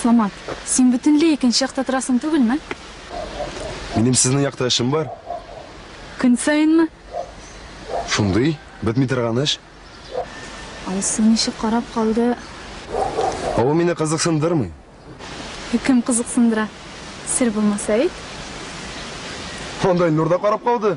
Самат, син бөтенләй икенче якта торасың түгелме? Минем сезнең якта эшем бар. Көн саенмы? Шундый, бетми торган эш. Алсу ничек карап калды. Ул мине кызыксындырмый. Кем кызыксындыра? Сер булмаса әйт. Анда Илнур да карап калды.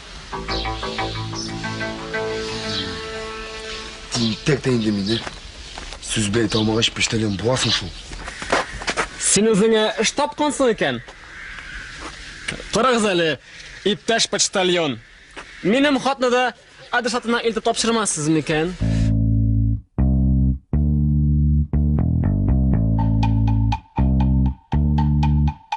Тинтәк тә инде мине. Сүз бәйт алмагач, пештәлен буасың шул. Син үзеңә эш тапкансың икән. Торыгыз әле, иптәш почтальон. Минем хатны да адресатына илтеп тапшырмассыз микән?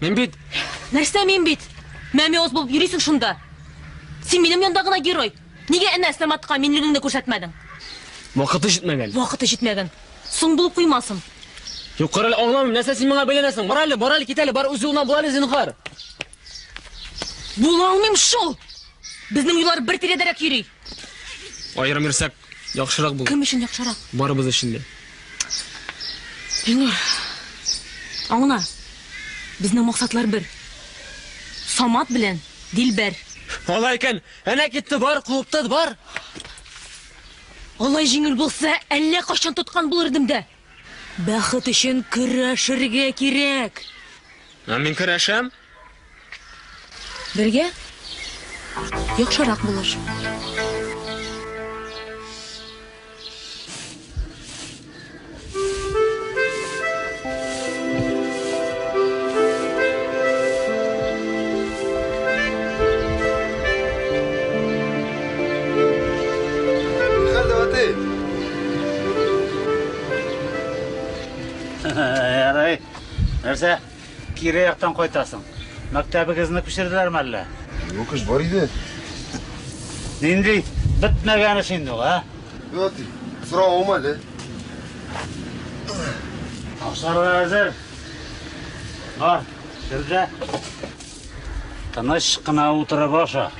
Мин бит... Нәрсә мин бит? Мәмиоз булып йөрисең шунда. Син минем янда гына герой. Нигә әнә Саматка минлегеңне күрсәтмәдең? Вакыты җитмәгән. Вакыты җитмәгән. Соң булып куймасын. Юк, кара әле, аңламыйм, нәрсә син миңа бәйләнәсең? Бар әле, бар әле, кит әле, бар үзе гына була әле, зинһар. Була алмыйм шул! Безнең юллар бер тирәдәрәк йөри. Аерым йөрсәк, яхшырак булыр. Кем өчен яхшырак? Барыбыз өчен дә. Илнур, аңла, безнең максатлар бер. Самат белән Дилбәр. Алай икән, әнә китте, бар, куыптыз, бар! Алай җиңел булса, әллә кайчан тоткан булыр идем дә. Бәхет өчен көрәшергә кирәк! Ә мин көрәшәм! Бергә яхшырак булыр. Нихәл, Давытый? Ярай. Нәрсә? Кире яктан кайтасың. Мәктәбегезне күчерделәрме әллә? Юк эш бар иде. Нинди бетмәгән эш инде ул, а? Вот, соравым әле. Ашарга әзер. Бар, кер дә. Тыныч кына утырып аша.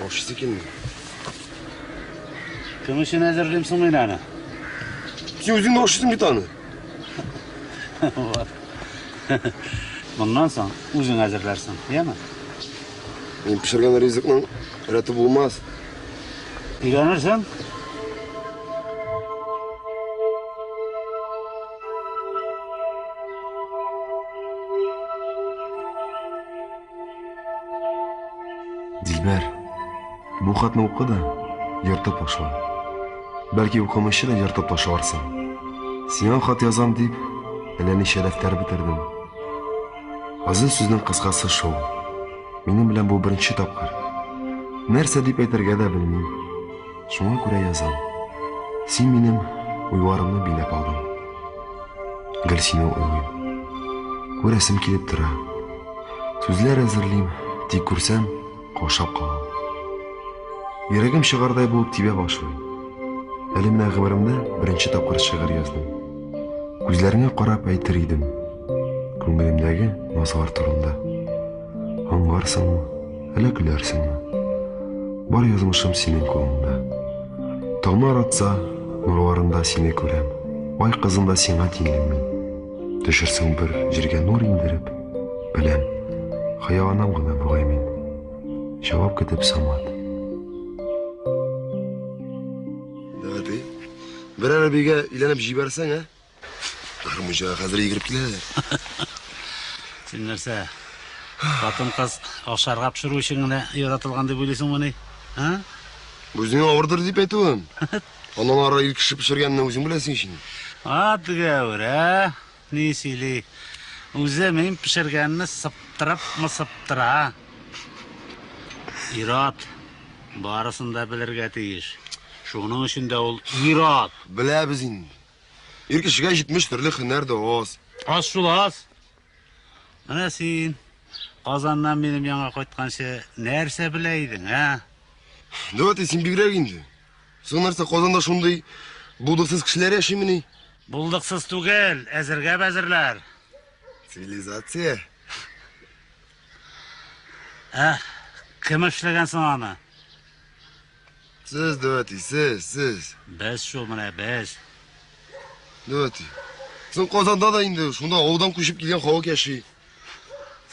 Ашыйсы килми. Кем өчен әзерлим соң мин аны? Син үзең дә ашыйсың бит аны. Моннан соң үзең әзерләрсең, яме? Мин пешергән ризыкның рәте булмас. Өйрәнерсең? Дилбәр, бу хатны укы да, ертып ташла. Бәлки укымыйча да ертып ташларсың. Сиңа хат язам дип, әллә ничә дәфтәр бетердем. Азын сүзнең кыскасы шул. Минем белән бу беренче тапкыр. Нәрсә дип әйтергә дә белмим. Шуңа күрә язам. Син минем уйларымны биләп алдың. Гел сине уйлыйм. Күрәсем килеп тора. Сүзләр әзерлим, тик күрсәм, каушап калам. Йөрәгем чыгардай булып тибә башлый. Әле менә гомеремдә беренче тапкыр шигырь яздым. Күзләреңә карап әйтер идем. Күңелемдәге назлар турында. Аңларсыңмы, әллә көләрсеңме? Бар язмышым синең кулыңда. Таңнар атса, нурларында сине күрәм. Ай кызында сиңа тиңлим мин. Төшерсең бер җиргә нур индереп, беләм. Хыяланам гына бугай мин. Җавап көтеп Самат. Дәүәти, берәр бигә өйләнеп җибәрсәң, ә? Гармунчы хәзер йөгереп киләләр. Син нәрсә? Хатын кыз ашарга пешерү өчен генә яратылган дип уйлыйсыңмы ни? А? Үзеңә авырдыр дип әйтүем. Аннан ары ил кеше пешергәнне үзең беләсең ич инде. А, тегәвер, ә? Ни сөйли? Үзе мин пешергәнне сыптырып мысыптыра. Ират барысын да белергә тиеш. Шуның өчен дә ул ират. Беләбез инде. Ир кешегә 70 төрле хөнәр дә аз. Аз шул аз. Менә син Казаннан минем яңа кайтканчы нәрсә белә идең, ә? Дәүәти, син бигрәк инде. Соң нәрсә Казанда шундый булдыксыз кешеләр яшимени? Булдыксыз түгел, әзергә бәзерләр. Цивилизация. Ә, кем эшләгән соң аны? Сез, Дәүәти, сез, сез. Без шул менә, без. Дәүәти. Соң Казанда да инде, шунда авылдан күчеп килгән халык яши.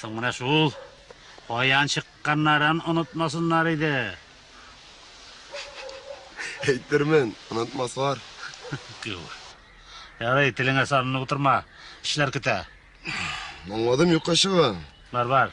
Соң менә шул каян чыкканнарын онытмасыннар иде. Әйтермен, онытмаслар. Гүр. Ярый, телеңә санын утырма. Эшләр көтә. Аңладым, юкка чыга. Бар, бар.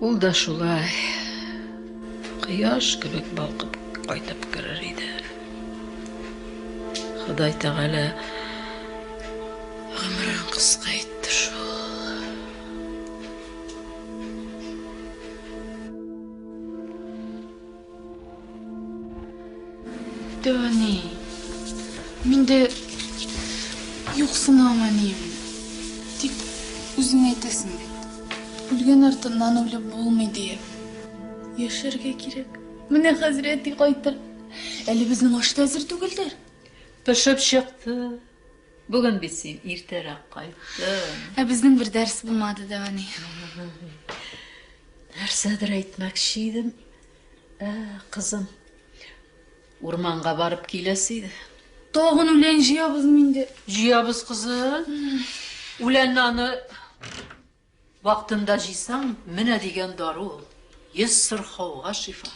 Ул да шулай кояш кебек балкып кайтып керер иде. Ходай Тәгалә гомерен кыска итте шул. Тәни, мин дә юксынамыйм, дип үзең әйтәсең бит. Үлгән артыннан үлеп булмый диеп. Яшәргә кирәк. Менә хәзер әти кайтыр. Әле безнең аш та әзер түгелдер. Пешеп чыкты. Бүген бит син иртәрәк кайттың. Ә безнең бер дәрес булмады да ани. Нәрсәдер әйтмәкче идем. Ә, кызым. Урманга барып киләсе иде. Тагын үлән җыябызмы инде? Җыябыз, кызым. Үләнне аны Вактында җыйсаң, менә дигән дару ул, йөз сырхауга шифа.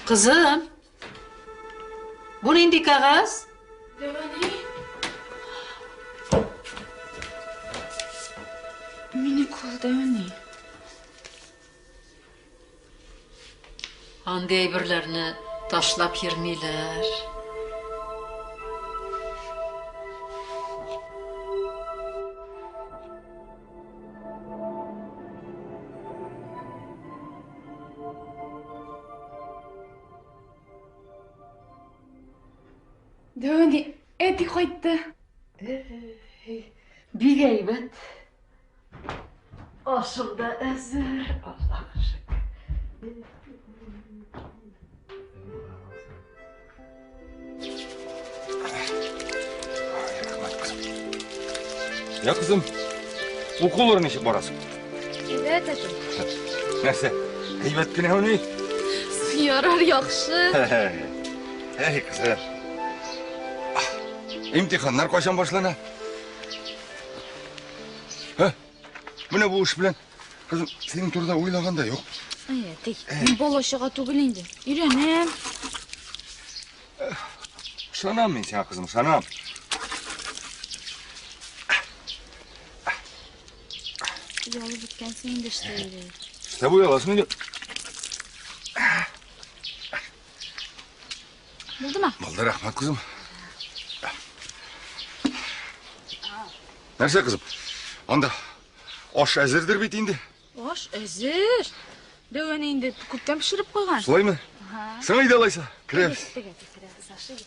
Кызым, бу нинди кәгазь? Дәвани. Мине кул дәвани. Андый әйберләрне ташлап йөрмиләр. Әти кайтты. Бик әйбәт. Ашым да әзер. Аллаһ шөкер. Я кызым, укулар ничек барасың? Әйбәт әтем. Нәрсә, әйбәт кенә уни? Ярар, яхшы. Әй, кызым. Имтиханнар кайчан башлана? Ә? Менә бу эш белән кызым синең турыда уйлаган да юк. Әйе, тик мин бала чага түгел инде. Өйрәнәм. Ышанам мин сиңа, кызым, ышанам. Ялы беткән син инде эшләйли. Эшләп уяласың инде. Булдымы? Булды, рәхмәт, күзем. Нәрсә, кызым? Анда аш әзердер бит инде. Аш әзер. Дәвәне инде күптән пешереп куйган. Шулаймы? Сиңа иде алайса. Керәбез. Тегә, тегә, керәбез, ашыйбыз.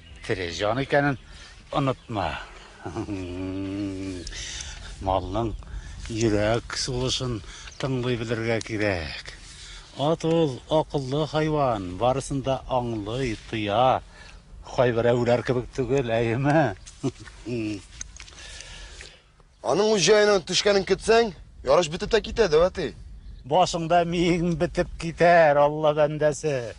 Тере җан икәнен онытма. Малның йөрәк сулышын тыңлый белергә кирәк. Ат ул акыллы хайван, барысын да аңлый, тоя. Кайберәүләр кебек түгел, әйеме? Аның үз җаена төшкәнен көтсәң, ярыш бетеп тә китә, дәү әти. Башыңда миең бетеп китәр, Алла бәндәсе.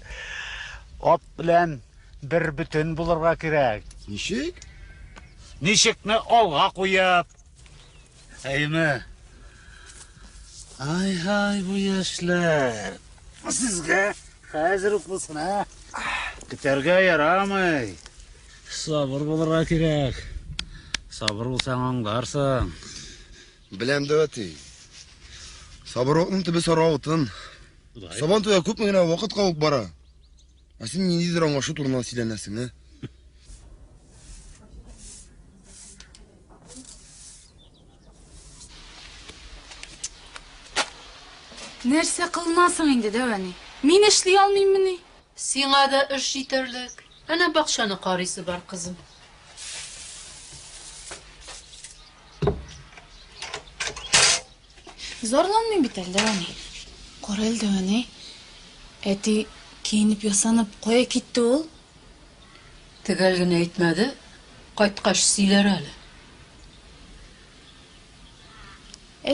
Ат белән бер бөтен булырга кирәк. Ничек? Ничекне алга куеп. Әйме. Ай-һай, бу яшьләр. Сезгә хәзер үк булсын, ә? Көтәргә ярамый. Сабыр булырга кирәк. Сабыр булсаң аңларсың. Беләм дә әти. Сабырлыкның төбе саралтын. Сабан туя күпме генә вакыт калып бара. Ә син ниндидер аңлашу турында сөйләнәсең, ә? Нәрсә кылынасың инде, дәвәни? Мин эшли алмыйммыни? Сиңа да эш җитәрлек. Әнә бакчаны карыйсы бар, кызым. Зарланмыйм бит әле, әни. Кара әле, әни. Әти киенеп-ясанып кая китте ул? Төгәл генә әйтмәде, кайткач сөйләр әле.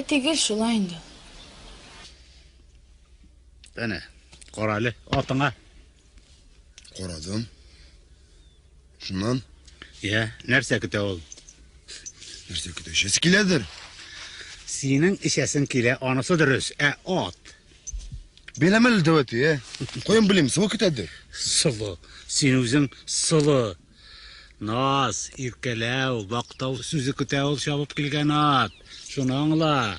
Әти гел шулай инде ул. Әнә, кара әле, атыңа. Карадым. Шуннан? Йә, нәрсә көтә ул? Нәрсә көтә? Эчәсе киләдер. Синең эчәсең килә, анысы дөрес. Ә ат? Беләм әле дәвәте, ә? Каян белим, сылу көтәдер. Сылу. Син үзең сылу. Наз, иркәләү, бактау сүзе көтә ул чабып килгән ат. Шуны аңла.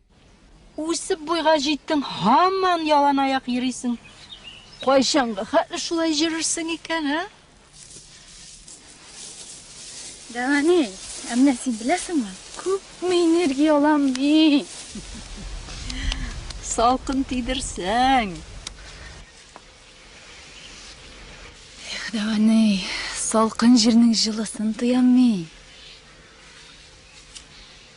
Үсеп буйга җиттең, һаман ялан аяк йөрисең. Кайчанга хәтле шулай җөрерсең икән, ә? Дәвани, ә менә син беләсеңме, күпме энергия алам мин? Салкын тидерсәң. Эх, Дәвани, салкын җирнең җылысын тоям мин.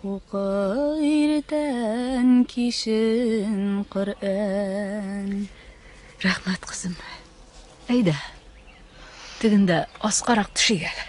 Укы иртән кичен Коръән. Рәхмәт, кызым. Әйдә. Тегендә аскарак төшик әле.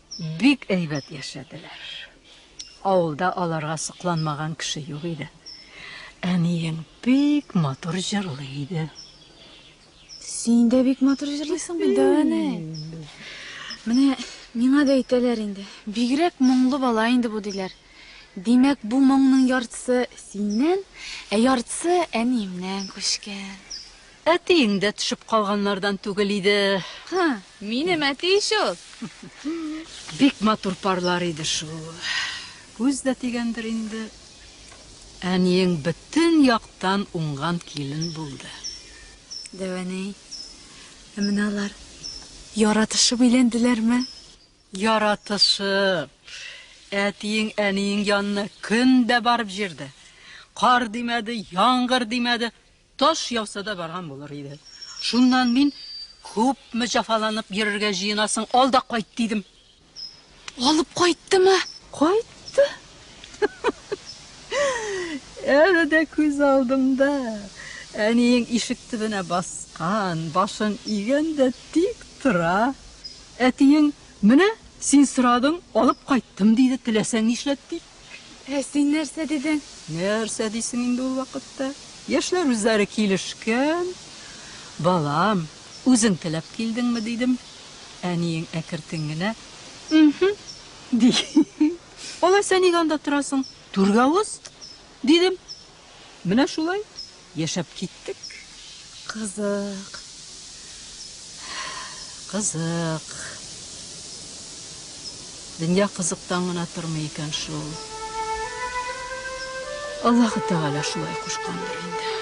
Бик әйбәт яшәделәр. Авылда аларга сокланмаган кеше юк иде. Әниең бик матур җырлый иде. Син дә бик матур җырлыйсың бит, Дәвәне. Менә миңа да әйтәләр инде. Бигрәк моңлы бала инде бу диләр. Димәк, бу моңның яртысы синнән, ә яртысы әниемнән күчкән. Әтиең дә төшеп калганнардан түгел иде. Ха, минем әти ич ул. Бик матур парлар иде шул. Күз дә тигәндер инде. Әниең бөтен яктан уңган килен булды. Дәвәни. Ә менә алар яратышып өйләнделәрме? Яратышып. Әтиең әниең янына көн дә барып җирде. Кар димәде, яңгыр димәде. Таш яуса да барган булыр иде. Шуннан мин, Күпме җафаланып йөрергә җыенасың, ал да кайт, дидем. Алып кайттымы? Кайтты. Әле дә күз алдымда. Әниең ишек төбенә баскан, башын игән дә тик тора. Әтиең, Менә син сорадың, алып кайттым, диде, теләсәң нишләт, дип. Ә син нәрсә дидең? Нәрсә дисең инде ул вакытта? Яшьләр үзләре килешкән. Балам, үзең теләп килдеңме, дидем. Әниең әкертен генә, Мхм, ди. Алайса ник анда торасың? Түргә уз, дидем. Менә шулай яшәп киттек. Кызык. Кызык. Дөнья кызыктан гына тормый икән шул. Аллаһы Тәгалә шулай кушкандыр инде.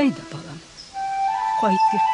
Әйдә, балам, кайтыйк.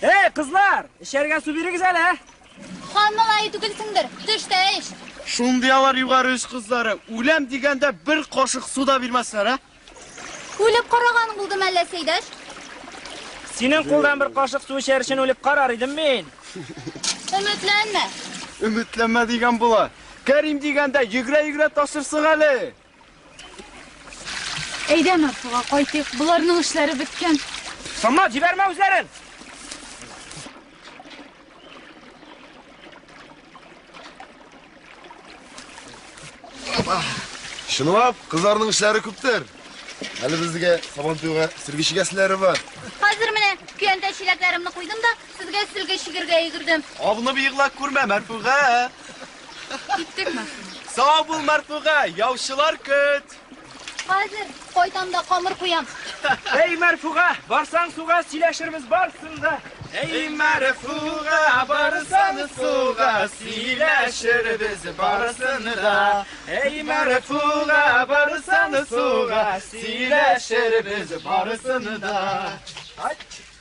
Эй, кызлар, эчәргә су бирегез әле. Хан малае түгелсеңдер, төш тә эч. Шундый алар югары үз кызлары. Үләм дигәндә бер кашык су да бирмәсләр, ә? Үлеп караган булдым әллә, Сәйдәш? Синең кулдан бер кашык су эчәр өчен үлеп карар идем мин. Өметләнмә. Өметләнмә дигән була. Кәрим дигәндә, йөгерә-йөгерә ташырсың әле! Әйдә, Марфуга, кайтыйк, боларның эшләре беткән. Самат, җибәрмә үзләрен! Чынлап, кызларның эшләре күптер. Әле безгә сабантуйга сөргечегәселәре бар. Хәзер менә көянтә чиләкләремне куйдым да, Сезгә сөлге чигергә йөгердем. Авнып егла күрмә, Мәрфуга! Киттек, Мәрфуга. Сау бул, Мәрфуга, яучылар көт! Хәзер кайтам да камыр куям. Әй, Мәрфуга, барсаң суга, сөйләшербез барсын да. Әй, Мәрфуга, барсаң суга, сөйләшербез барсын да. Әй, Мәрфуга, барсаң суга, сөйләшербез барсын да. Ай!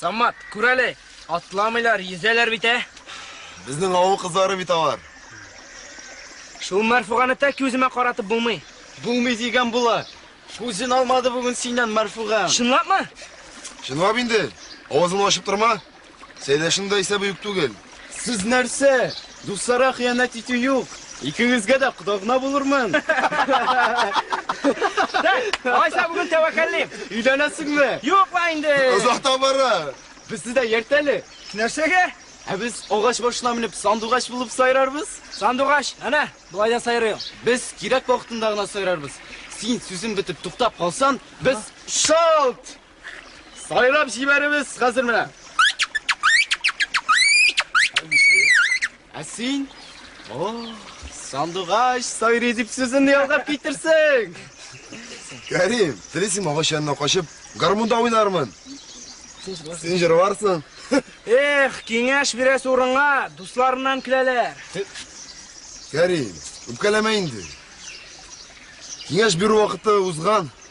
Самат, күр әле, атламыйлар, йөзәләр бит, ә? Безнең авыл кызлары бит алар. Шул Мәрфуганы тәки үземә каратып булмый. Булмый дигән була. Күзен алмады бүген синнән Мәрфуган. Чынлапмы? Чынлап инде. Авызыңны ачып торма. Сәйдәшнең дә исәбе юк түгел. Сез нәрсә? Дусларга хыянәт итү юк. Икегезгә дә кода-гына булырмын. Алайса бүген тәвәккәллим. Өйләнәсеңме? Юк ла инде. Озакта бара. Безне дә йөрт әле. Нәрсәгә? Ә без агач башына менеп сандугач булып сайрарбыз. Сандугач, әнә, болай да сайрыйм. Без кирәк вакытында гына сайрарбыз. Син сүзең бетеп туктап калсаң, без шалт! Сайлап җибәребез хәзер менә. Ә син? О, сандугач сайрый дип сүземне ялгап китерсең. Кәрим, телисең агач янына качып, гармунда уйнармын. Син җырларсың. Эх, киңәш бирәсе урынга дусларыннан киләләр. Кәрим, үпкәләмә инде. Киңәш бирү вакыты узган.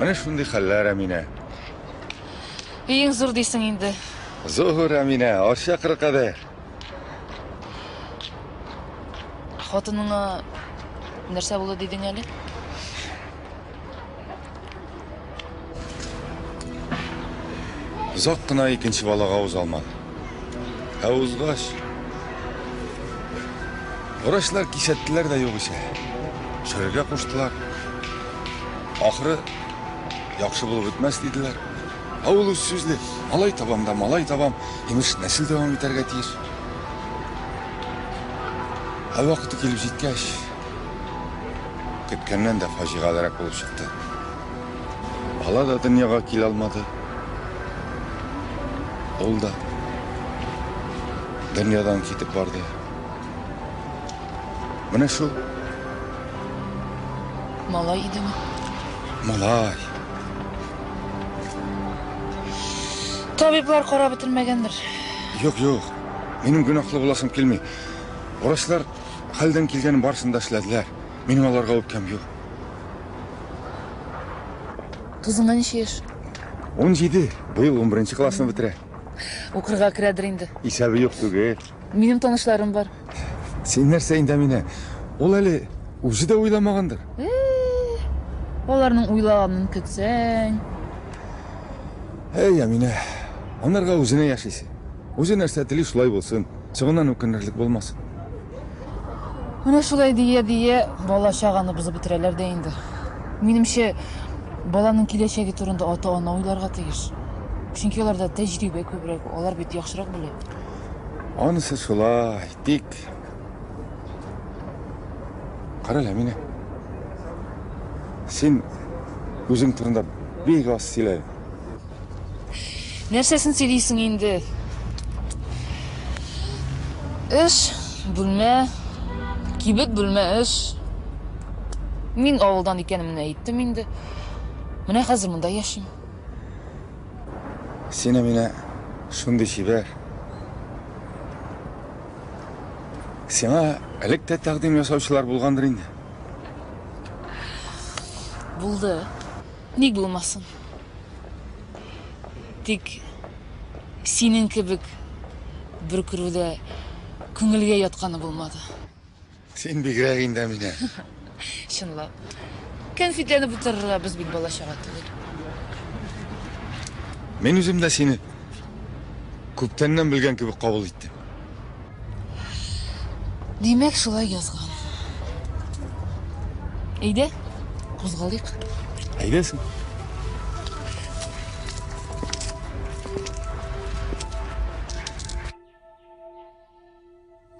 Менә шундый хәлләр, Әминә. Өең зур дисең инде. Зур, Әминә, арча кыры кадәр. Хатыныңа нәрсә булды дидең әле? Озак кына икенче балага уза алмады. Ә узгач, врачлар кисәттеләр дә югыйсә. Төшерергә куштылар. Ахыры яхшы булып бетмәс диделәр. Ә ул үз сүзле, малай табам да малай табам, имеш, нәсел дәвам итәргә тиеш. Ә вакыты килеп җиткәч, көткәннән дә фаҗигалерәк булып чыкты. Бала да дөньяга килә алмады. Ул да дөньядан китеп барды. Менә шул. Малай идеме? Малай. Табиблар карап бетермәгәндер. Юк, юк. Минем гөнаһлы буласым килми. Врачлар хәлдән килгәнен барысын да эшләделәр. Минем аларга үпкәм юк. Тузыңа ничә яшь? 17. Быел 11 классны бетерә. Укырга керәдер инде. Исәбе юк түгел. Минем танышларым бар. Син нәрсә инде мине? Ул әле үзе дә уйламагандыр. Аларның уйлаганын көтсәң. Әй, Әминә, анарга үзенә яшисе. Үзе нәрсә тели, шулай булсын. Соңыннан үкенерлек булмас. Менә шулай дия-дия бала-чаганы бозып бетерәләр дә инде. Минемчә, баланың киләчәге турында ата-ана уйларга тиеш. Чөнки аларда тәҗрибә күбрәк, алар бит яхшырак белә. Анысы шулай, тик Кара әле, Әминә. Син үзең турында бик аз сөйлә. Нәрсәсен сөйлисең инде? Өч бүлмә, кибет бүлмә өч. Мин авылдан икәнемне әйттем инде. Менә хәзер монда яшим. Син Әминә шундый чибәр. Сиңа элек тә тәкъдим ясаучылар булгандыр инде. Булды. Ник булмасын? Тик синең кебек бер күрүдә күңелгә ятканы булмады. Син бигрәк инде, Әминә. Чынлап. Кәнфитләнеп утырырга без бит бала-чага түгел. Мин үзем дә сине күптәннән белгән кебек кабул иттем. Димәк, шулай язган. Әйдә, кузгалыйк. Әйдәсең.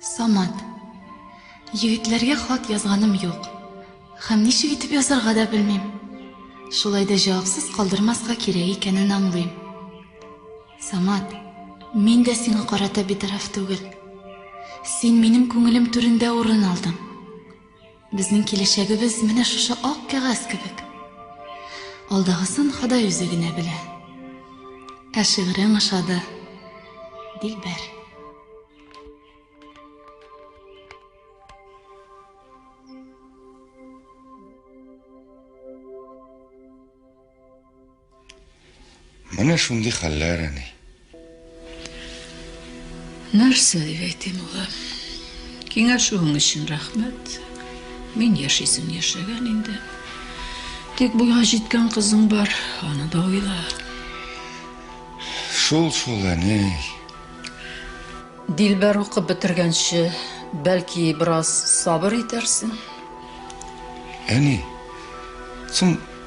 Самат. Егетләргә хат язганым юк. Һәм ничек итеп язарга да белмим. Шулай да җавапсыз калдырмаска кирәк икәнен аңлыйм. Самат, мин дә сиңа карата битараф түгел. Син минем күңелем түрендә урын алдың. Безнең киләчәгебез менә шушы ак кәгазь кебек. Алдагысын Ходай үзе генә белә. Ә шигырең ошады, Дилбәр. Менә шундый хәлләр, әни. Нәрсә дип әйтим, улым? Киңәшүең өчен рәхмәт. Мин яшисем яшәгән инде. Тик буйга җиткән кызың бар, аны да уйла. Шул шул, әни. Дилбәр укып бетергәнче, бәлки бераз сабыр итәрсең. Әни, соң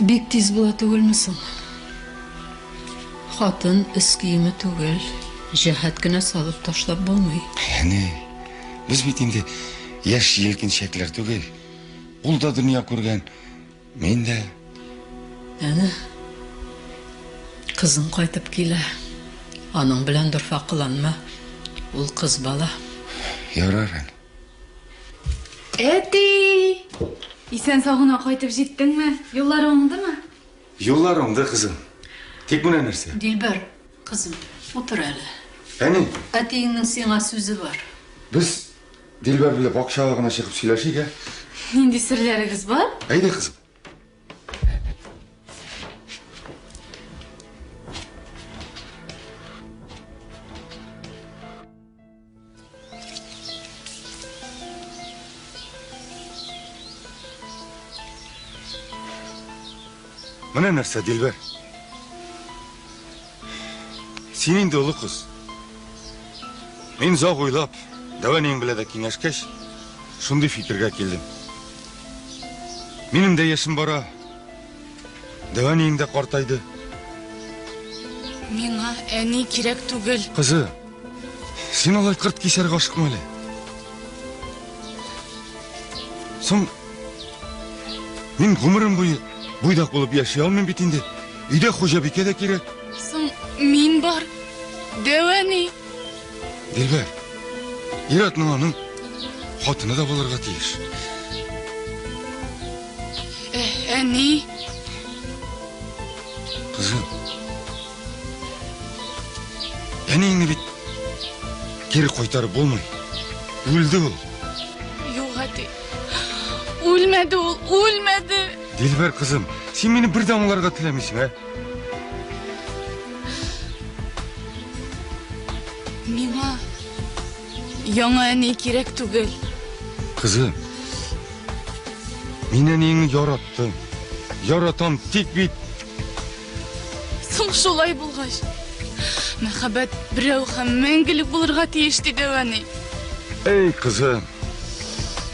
Бик тиз була түгелме соң? Хатын өс киеме түгел, җәһәт кенә салып ташлап булмый. Әни, без бит инде яшь җилкенчәкләр түгел. Ул да дөнья күргән, мин дә. Әнә, кызың кайтып килә. Аның белән дорфа кыланма. Ул кыз бала. Ярар, әни. Әти! Исән сау гына кайтып җиттеңме? Юллар уңдымы? Юллар уңды, кызым. Тик менә нәрсә. Дилбәр, кызым, утыр әле. Әни! Әтиеңнең сиңа сүзе бар. Без Дилбәр белән бакчага гына чыгып сөйләшик, ә? Нинди серләрегез бар? Әйдә, кызым. Менә нәрсә, Дилбәр. Син инде олы кыз. Мин зак уйлап, дәвәнең белә дә киңәшкәч, шундый фикергә килдем. Минем дә яшем бара. Дәвә ниеңдә картайды. Миңа әни кирәк түгел. Кызы, син алай кырт кисәргә ашыкма әле. Соң, мин гомерем буе буйдак булып яши алмыйм бит инде. Өйдә хуҗабикә дә кирәк. Соң, мин бар. Дәвә ни? Дилбәр, ир-атның аның хатыны да булырга тиеш. Ә, әни? Кызым. Әниеңне бит кире кайтарып булмый. Үлде ул. Юк, әти. Үлмәде ул, үлмәде. Дилбәр кызым, син мине бер дә аңларга теләмисең, ә? Яңа әни кирәк түгел. Кызым, мин әниеңне яраттым. Яратам, тик бит... Соң шулай булгач, мәхәббәт берәү һәм мәңгелек булырга тиеш, диде әни. Эй, кызым,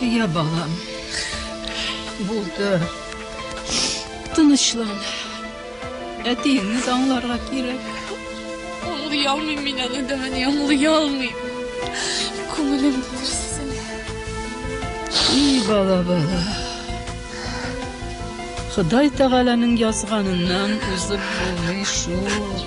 Я, балам, булды. Тынычлан. Әтиеңне аңларга кирәк. Аңлый алмыйм мин аны, Дани, аңлый алмыйм. Күңелем булырсың. И, бала, бала. Ходай Тәгаләнең язганыннан узып булмый шул.